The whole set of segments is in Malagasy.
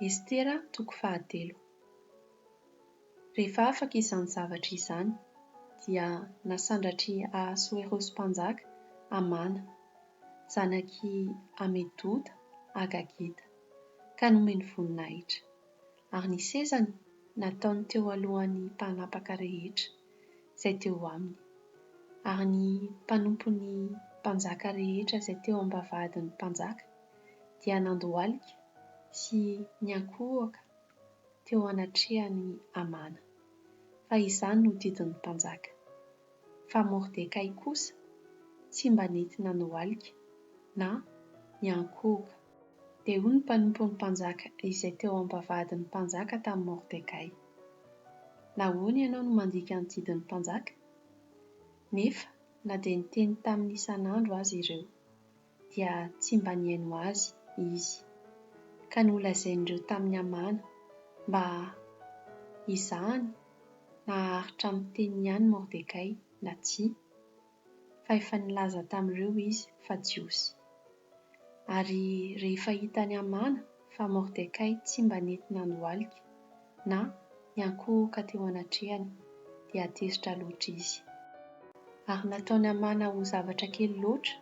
Estera toko fahatelo. Rehefa afaka izany zavatra izany, dia nasandratr'i Ahasoerosy Mpanjaka Hamana, zanak'i Hamedoda Hagagita, ka nomeny voninahitra, ary ny sezany nataony teo alohan'ny mpanapaka rehetra izay teo aminy, ary ny mpanompon'ny mpanjaka rehetra izay teo am-bavahadin'ny mpanjaka, dia nandohalika sy niankohoka teo anatrehan'i Hamana, fa izany no didin'ny mpanjaka. Fa Mordekay kosa tsy mba nety nandohalika na niankohoka. Dia hoy ny mpanompon'ny mpanjaka izay teo am-bavahadin'ny mpanjaka tamin'i Mordekay, Nahoana ianao no mandika ny didin'ny mpanjaka? Nefa na dia niteny tamin'ny isan'andro aza ireo, dia tsy mba nihaino azy izy, ka nolazain'ireo tamin'i Hamana mba hizahany na haharitra amin'ny teniny ihany Mordekay na tsia, fa efa nilaza tamin'ireo izy fa Jiosy. Ary rehefa hitan'i Hamana fa Mordekay tsy mba nety nandohalika, Na, niankohoka teo anatrehany, dia tezitra loatra izy. Ary nataony hamana ho zavatra kely loatra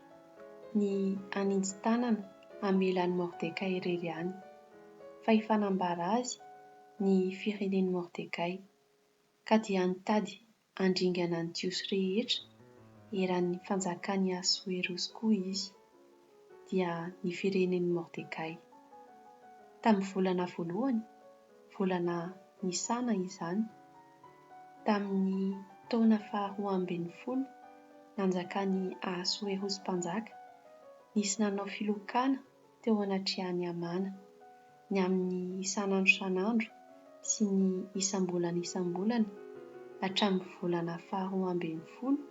ny haninji-tanana hamela an'i Mordekay irery ihany, fa hifanambara azy ny firenen'i Mordekay, ka dia nitady handringana ny Jiosy rehetra eran' ny fanjakan' i Asoerosy koa izy, dia ny firenen' i Mordekay. Tamin' ny volana voalohany, volana Nisana izany, tamin' ny taona faharoa ambin' ny folo nanjakan' i Ahasoerosy mpanjaka, nisy nanao filokana teo anatrehan'i Hamana, ny amin'ny isan'andro isan'andro sy ny isam-bolana isam-bolana, hatramin'ny volana faharoa ambin'ny folo,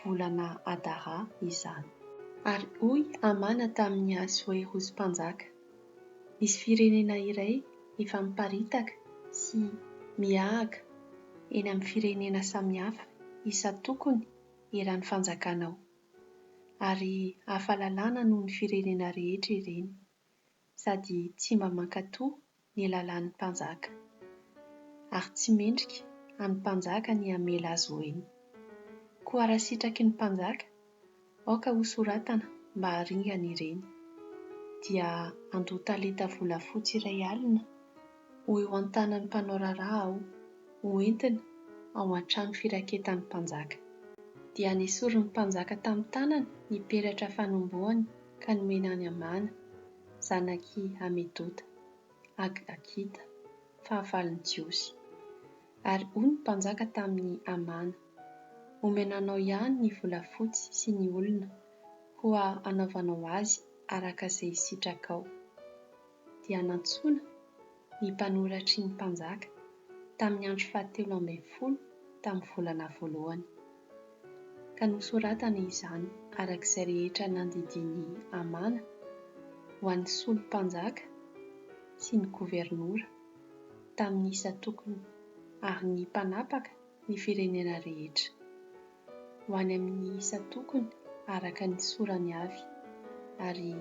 volana Adara, izany. Ary hoy Hamana tamin'i Asoerosy mpanjaka, Misy firenena iray efa miparitaka sy miahaka eny amin'ny firenena samihafa isan-tokony eran'ny fanjakanao. ary hafa lalàna noho ny firenena rehetra ireny, sady tsy mba mankatò ny lalàn'ny mpanjaka, ary tsy mendrika an'ny mpanjaka ny hamela azy ho eny. Koa raha sitraky ny mpanjaka, aoka hosoratana mba haringana ireny, dia andoa talenta volafotsy iray alina, ho eo an-tanan'ny mpanao raharaha aho, ho entina ao an-trano firaketan'ny mpanjaka. Dia nesorin'ny mpanjaka tamin'ny tanany ny peratra fanombohany ka nomeny an'i Hamana, zanak'i Hamedota, Agagita, fahavalon'ny Jiosy. Ary hoy ny mpanjaka tamin'i Hamana, Omena anao ihany ny volafotsy sy ny olona, koa anaovanao azy araka izay sitrakao. dia nantsoina ny mpanoratry ny mpanjaka tamin'ny andro fahatelo ambin'ny folo tamin'ny volana voalohany, ka nosoratany izany araka izay rehetra nandidian'i Hamana ho an'ny solo-mpanjaka sy ny governora tamin'ny isan-tokony ary ny mpanapaka ny firenena rehetra. ho any amin'ny isan-tokony araka ny sorany avy, ary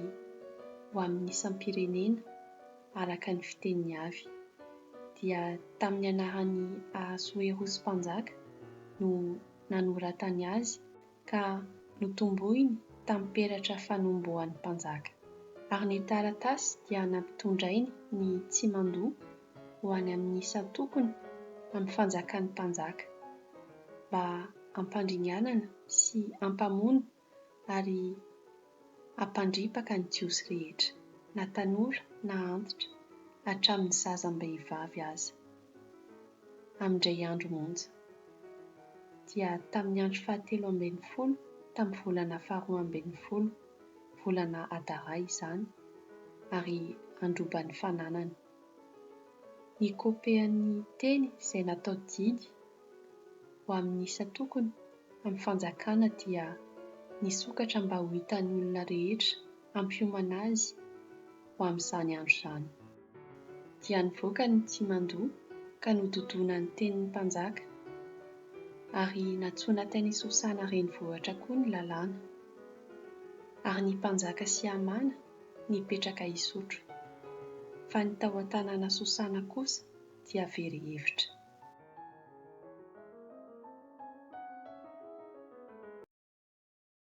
ho amin'ny isam-pirenena araka ny fiteniny avy. Dia tamin'ny anaran'i Ahasoerosy mpanjaka no nanoratany azy ka notomboiny tamin'ny peratra fanombohan'ny mpanjaka. Ary ny taratasy dia nampitondrainy ny Tsimandoa ho any amin'ny isan-tokony amin'ny fanjakan'ny mpanjaka, mba hampandringanana sy hampamono ary hampandripaka ny Jiosy rehetra, na tanora na antitra, hatramin'ny zaza am-behivavy aza, amin-dray andro monja. Dia tamin'ny andro fahatelo ambin'ny folo tamin'ny volana faharoa ambin'ny folo, volana Adara izany, ary handroba ny fananany. Nikopehan'ny teny izay natao didy ho amin'ny isan-tokony amin'ny fanjakana dia nisokatra mba ho hitan'ny olona rehetra hampiomana azy ho amin'izany andro izany. Dia nivoaka ny tsimandoa ka nododona ny tenin'ny mpanjaka, ary nantsoina tany Sosana renivohitra koa ny lalàna. Ary ny mpanjaka sy Hamana nipetraka hisotro, fa ny tao an-tanàna Sosana kosa dia very hevitra.